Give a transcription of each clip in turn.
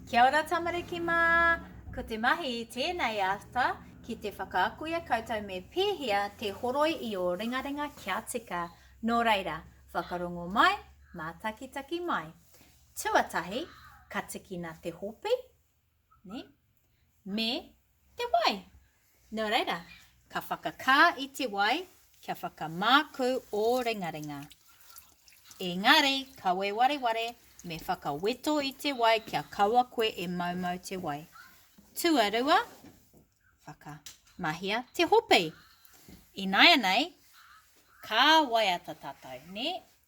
Kia ora tamariki mā! Ko te mahi i tēnei ata ki te whakaaku i a koutou me pēhea te horoi i ō ringaringa kia tika. Nō reira, whakarongo mai, mātakitaki mai. Tuatahi, ka tikina te hopi. ne? me te wai. Nō reira, ka whakakā i te wai kia whakamākū ō ringaringa. Engari, kawe wareware, me whakaweto i te wai kia kaua koe e maumau te wai. Tuarua, whakamahia te hopi. Ināianei, ka waiata tātou, nē?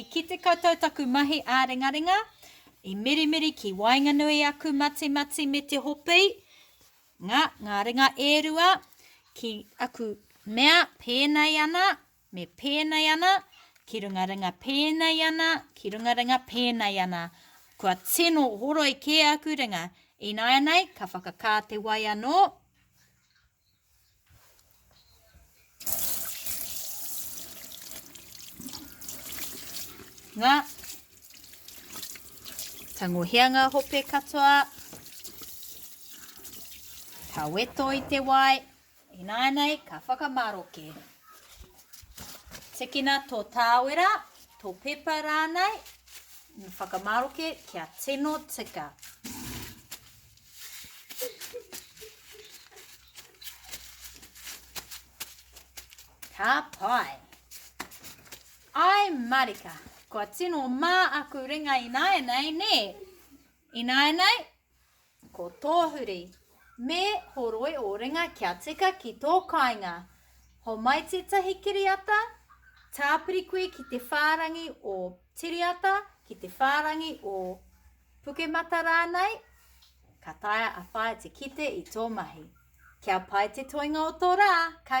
I kite koutou taku mahi āringaringa, i mirimiri ki waenganui aku matimati me te hopi, nga, nga ringa e rua, ki aku mea pēnei ana, me pēnei ana, ki runga ringa pēnei ana, ki runga ringa pēnei ana. Kua tino horoi kē aku ringa, ināianei ka whakakā te wai anō. Nga. Tangohia nga hope katoa. Ka weto i te wai. Inaenei, ka whakamaroke. Tikina tō tāwera, tō pepa rānei, whakamaroke kia tino tika. Ka pai. Ai marika, kua tino mā aku ringa ināianei, nē? Ināianei, ko tō huri, me horoi ō ringa kia tika ki tō kāinga. Homai tētahi kiriata, tāpiri koe ki te whārangi o Tiriata, ki te whārangi o. Pukemata rānei, ka taea a Whaea te kite i tō mahi. Kia pai te toenga o tō rā, ka.